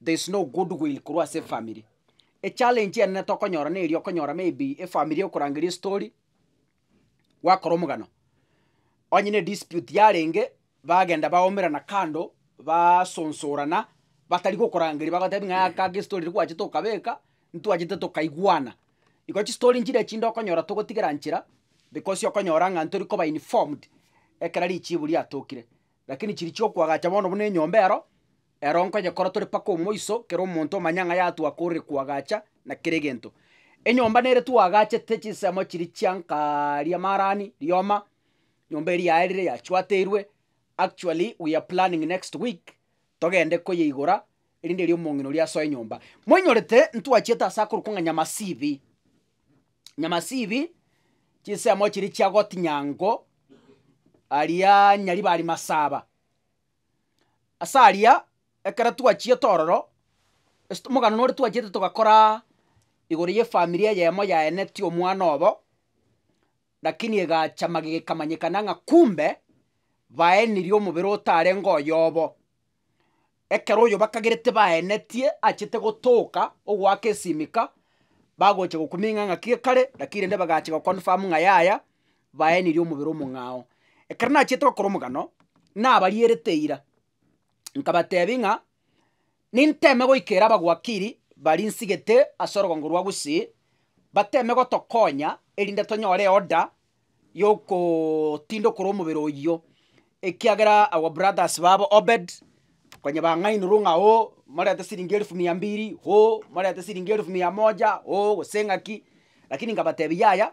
there is no good will korwa ase efamiri. Echallenge enene tokonyora neria okonyora maybe efamiri ekorangeria estory, gwakora omogano, onye ne dispute yarenge, bagenda baomerana kando, baasonsorana, batari gokorangeria bagotebi ng'a aka aka estory riria gwachete okabeka, ntwachete tokaigwana. Igo chistory nchire echinde okonyora togotigera nchera, because okonyora ng'a ntori koba informed, ekero richibu riatokire. Lakini chiri chiokwagacha bono buna enyomba ero, Ero nkonyekora tore mpaka omoiso, kera omonto omanye ng'a yatwakorire koagacha na kera egento. Enyomba nere twaagachete, chinsemo chiria chia nkaaria marani, rioma, nyomba eria yaerire yachwateirwe, actually we are planning next week togende koyeigora erinde erio omong'ina oria asoe nyomba. Moinyorete ntwachiete ase akorokwa ng'a Nyamasibi. Nyamasibi, chinsemo chiria chia Gotinyango, aria Nyaribari Masaba. Ase aria, ekero twachiete ororo, ase omogano nore twachiete togakoraa igoro y'efamiri eyemo yaeneti omwana obo, lakini egacha magega ekamanyekana ng'a kumbe, baenirie omobere otarenge oyobo. Ekero oyobakagerete baenetie achete gotoka ogoaka esimika, bagocha gokuming'a ng'aki ekare, lakini rende bagacha goconfirm ng'a yaya, baenirie omobere omong'ao. Ekero nachiete gokora omogano, nabarierete eira, nkabatebia ng'a ninteme goika ere abagwakiri baria nsigete ase orogongo rwa Gusii, bateme gotokonya erinde tonyore eorder yogootinda okora omobere oyio, ekiagera our brothers babo Obed, konya bang'ainorwe ng'a oo, morente siringi elfu mia mbili, oo, morente siringi elfu mia moja, oo, gose ng'aki, lakini nkabatebia yaya,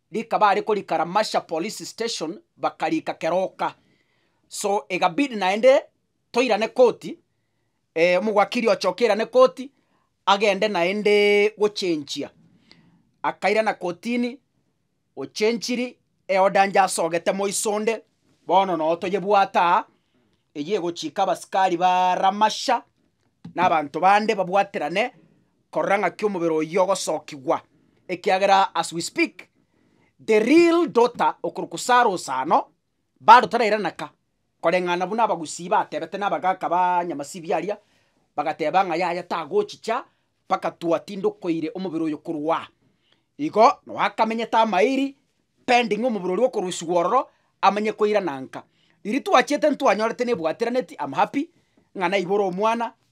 Rikaba are korika Ramasha police station bakarika keroka so egabidi naende toirane koti omogwakiri ochoke airane koti agende naende gochenchia akairana kotini ochenchiri eoda inche asogete moiso onde bono noo toyebwate aa eywo egochika abasikari ba Ramasha na abanto bande babwaterane Korora ng'aki omobere oyio ogosokigwa, ekiagera as we speak, the real daughter okorokwa Sarah Osano, bado tarairana ka, koreng'ana buna abagusii batebete na abagaka ba Nyamasibia aria, bagateba ng'a yaya tagochicha mpaka twatindokoire omobere oyo korwa aa. Igo nao akamenyete amairi pending omobere oria okorusigwa ororo amanye koirana nka. Riria twachiete ntwanyorete nebwatiraneti, am happy, ng'a naibora omwana,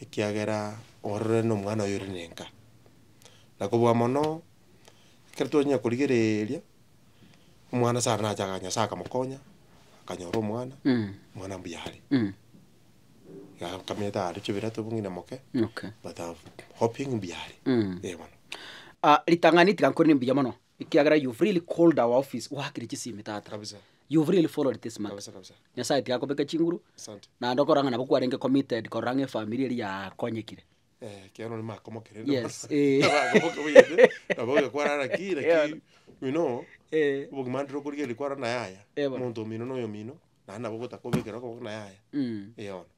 ekiagera ororere nomwana oyo ore nenka. Na kobua mono, ekero twanyia korigereeria, omwana saro nache aga Nyasae akamokonya, akanyora omwana, omwana mbuya are. Iga akamanyete aare chio birato bono ng'ina moke, Okay. but am hoping mbuya are, eh bono. Ritang'ani tiga nkore ne mbuya mono. Ekiagera you've really called our office gwakire chisimi tata kabisa you've really followed this matter kabisa kabisa nyasaye tiga kobeka chinguru asante naende okorora ng'a nabo kwarenge committed korora ng'a efamiri eri yakonyekire eh ekiagera onye makomokerende yes eh Abagoboke boyete, nabo ogekwarara ki, lakini Ewana. you know, eh obogima ndire okorigereria kwarana yaya, Ewana. omonto omino na oyomino, naende nabo gotakobekera okoboko na yaya, mm. eona.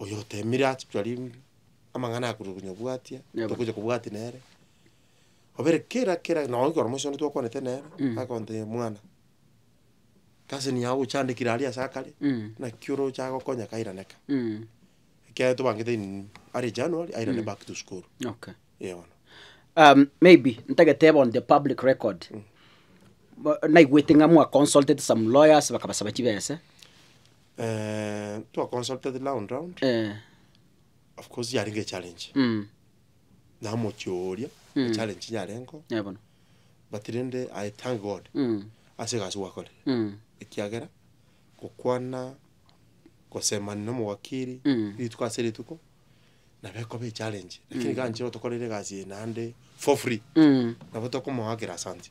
Oyo otemire ase chwari amang'ana akorwa konya obwatia, Yebo. tokocha kobwatia nere. Obere kera kera nonye ekero moiseke onde twakwanete nere, Mm. akonte mwana, kasini yago ochandekire aria ase akare, Mm. naki oroche agokonya kairaneka. Mm. Ekiagera tobangete in early January, airane Mm. back to school. Okay. Eh, bono. Um, maybe ntageteba on the public record Bo- naigwete ng'a mwa consulted some lawyers bakabasaba chibese twa consulted round round, eh, of course yarenge echallenge, mm, na omochie oria Mm. echallenge chinyarengeo, eh, bono, but rende I thank God mm, ase egasi gwakorire, mm, ekiagera gokwana gosemania na omowakiri Mm. rituko ase rituko, nabo ekoba echallenge, lakini iga nche otokorere egasi eye naende for free, mm. nabo tokomoakera asante.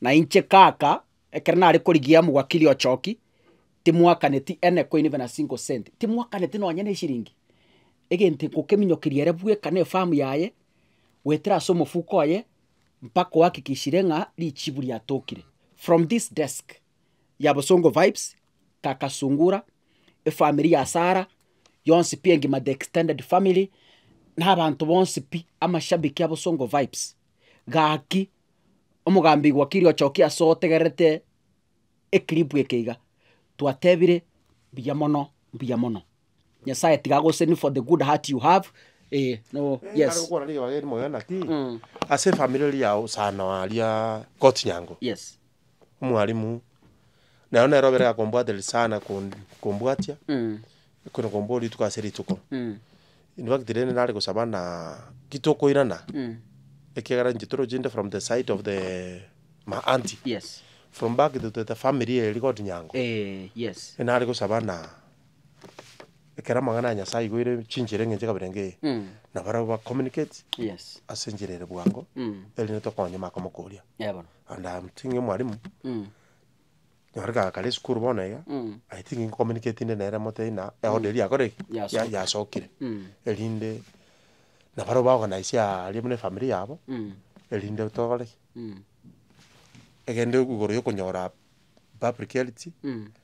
Na inche kaka, ekero nare korigia omogakiri ochoki, timwakaneti ane koini buna single cent, timwakaneti nonye ne eshiringi, egento ngokeminyokeria ere bweka na efamu yaye, goetera ase omofuko oye, mpaka ohakikishire ng'a richibu riatokire. From this desk ya Bosongo Vibes, kaka Sungura, efamiri ya Sarah, yonsi pi engima the extended family, na abanto bonsi pi, amashabiki a Bosongo Vibes. gaki, omogambi wakiri ochokia ase otegererete eclip eke iga, twatebire mbuya mono mbuya mono, nyasaye tiga agoseni for the good heart you have eh no Ekero yes. okwana ribaga erimo iga naki, ase efamiri eria yao sana aria Coach Nyango. Yes. omwalimu, nero nere obere akombwatereria sana kon- kombwatia, ekero nakombua rituko ase rituko. In fact rende nare gosaba na titokoirana, ekiagera inche toroche inde from the side of the ma aunty, Yes. from back to the family eye rigori nyango. Eh, yes. Ere nare gosaba na ekero amang'ana ya Nyasae aigoire chinchera eng'encho kabere iga eye, Mm. nabarabwo ba communicate Yes. ase enchera ere bwango, Mm. erinde tokonye makomokoria. Yebono. and I am thinking mwalimu, nyore kare kare esukuru bono iga, I think nko communicatinire nere motebi ng'a eorder eria yakorire ki? Ya- Yasokire. yasokire, erinde na baria ba organise aria buna efamiri yabo, erinde tokore ki? Egende igoro ya okonyora public health,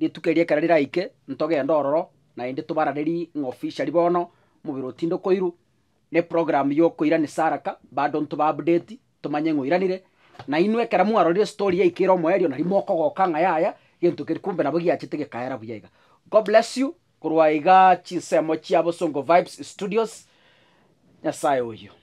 Rituko erio ekero riraike, ntogende ororo, naende tobararerie ng'a officially bono omobere otinde okoirwa, na eprogram y'okoirana esaraka, bado ntoba-update, tomanye ng'a oiranire, na inwe ekero mwarorire estory yaika ere omoerio nario mokogoka ng'a yaya, gento keria kumbe nabo giachete gekaera buya iga. God bless you, korwa iga chinsemo chia Bosongo Vibes Studios, Nyasaye oyio.